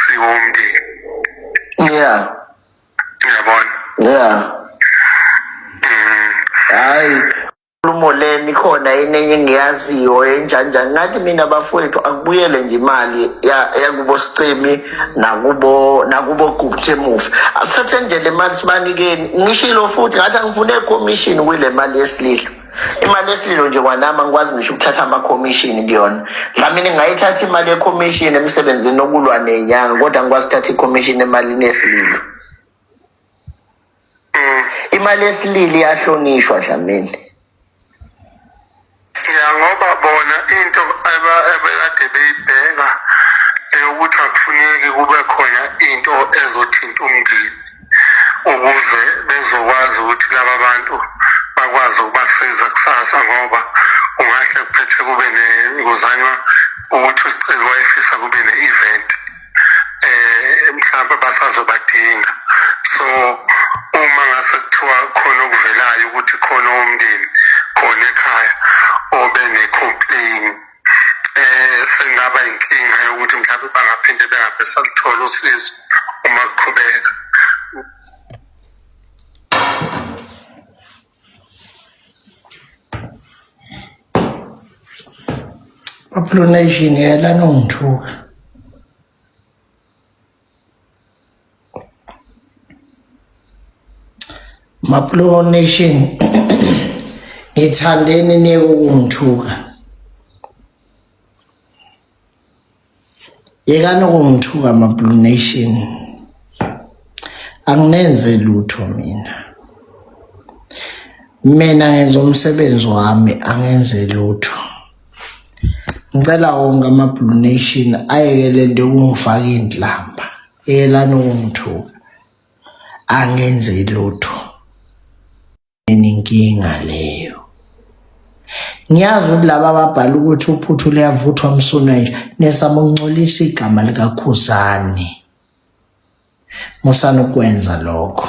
siwonke yeah uyabona yeah mm. hayi inkulumo leni khona enenye engiyaziyo enjanjani ngathi mina bafowethu akubuyele nje imali yakubo sicimi nakubo nakubo gubuthe emuva asithathe ndlela imali sibanikeni ngishilo futhi ngathi angifune commission kwile mali yesililo imali yesililo nje kwanami angikwazi ngisho ukuthatha amakhomishini kuyona dlamini ngayithatha imali yekhomishini emsebenzini okulwa nenyanga kodwa ngikwazi ukuthatha ikhomishini emalini yesililo Mm. imali yesilili iyahlonishwa dlamini ya ngoba bona into aba- abekade beyibheka eyokuthi akufuneki kube khona into ezothinta umndeni ukuze bezokwazi ukuthi laba bantu bakwazi ukubasiza kusasa ngoba kungahle kuphethe kube kuzanywa ukuthi usicelo wayefisa kube ne-event eh mhlawumbe basazobadinga so uma ngase kuthiwa khona okuvelayo ukuthi khona umndeni khona ekhaya obe ne-complain eh sengaba inkinga yokuthi mhlawumbe bangaphinde bengabe saluthola usizo uma kuqhubeka Apulonation yela nongithuka Maplo Nation ngithandeni niyeke ukungithuka yekani ukungithuka Maplo Nation anginenze lutho mina mina ngenza umsebenzi wami angenze lutho ngicela wonke ama-blue nation ayeke le nto yokungifaka iy'ndlamba yekelani ukungithuka angenze lutho inkinga leyo ngiyazi ukuthi laba ababhala ukuthi uphuthu liyavuthwa msuna nje nesaba ukuncolisa igama likakhuzane musana ukwenza lokho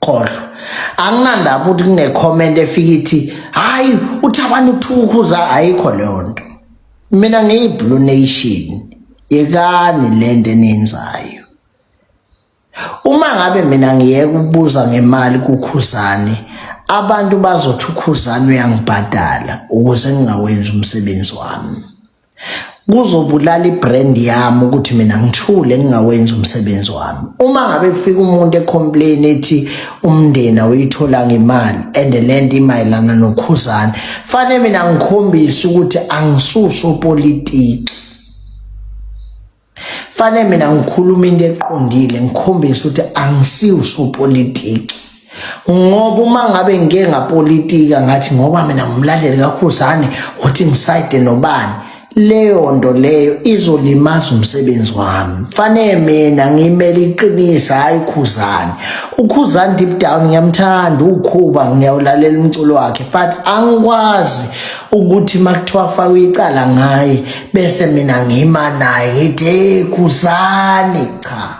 khohlwa anginandaba ukuthi kunecomment efika ithi hayi uthabani ukuthukuza ayikho leyo nto mina ngiyiblue nation yekani le nto eniyenzayo uma ngabe mina ngiyeke ukubuza ngemali kukhuzane abantu bazothi ukhuzane uyangibhadala ukuze ngingawenzi umsebenzi wami kuzobulala ibrand yami ukuthi mina ngithule ngingawenzi umsebenzi wami uma ngabe kufika umuntu ecomplain ethi umndeni awuyithola ngemali and lento imayelana nokhuzana fanele mina ngikhombise ukuthi angisuso politiki Fane mina ngikhuluma into eqondile ngikhombisa ukuthi angisiwusopolitiki ngoba uma ngabe ngike ngapolitika ngathi ngoba mina ngumlandeli kakhuzane uthi ngisayide nobani leyo nto leyo izolimaza umsebenzi wami fanele mina ngimele iqinisa hayi ukhuzane ukhuzane deep down ngiyamthanda ukhuba ngiyawulalela umculo wakhe but angikwazi ukuthi makuthiwa faka icala ngaye bese mina ngima naye ngithi hey khuzani cha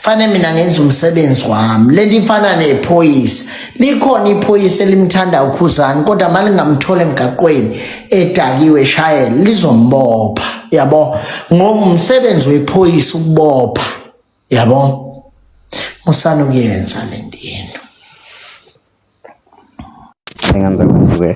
fane mina ngenza umsebenzi wami leli mfana nephoyisa likhona iphoyisa elimthanda ukhuzani kodwa malingamthola emgaqweni edakiwe shayela lizombopha yabo ngomsebenzi wephoyisa ukubopha yabo musana ukuyenza lento Engenza ukuthi-ke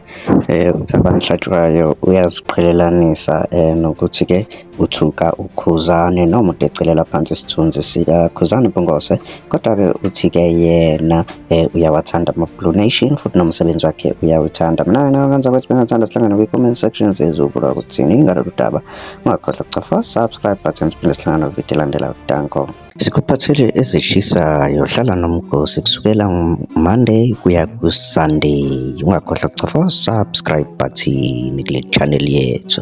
um ukuthi abamhlatshwayo uyaziqhelelanisa um nokuthi-ke uthuka uKhuzani noma udecelela phansi isithunzi sikaKhuzani Mpungose kodwa-ke uthi-ke yena um uyawathanda ama-Blue Nation futhi nomsebenzi wakhe uyawuthanda mina wena ngenza ukuthi bengathanda sihlangane kwi-comment section sizobula ukuthini ngalolu daba ungakhohlwa ukucofa subscribe button siphinde sihlangane vidiyo elandelayo danko Sikuphathele ezishisayo hlala nomgosi kusukela Monday kuya ku-Sunday. Ungakhohlwa kucofa subscribe button kule channel yethu.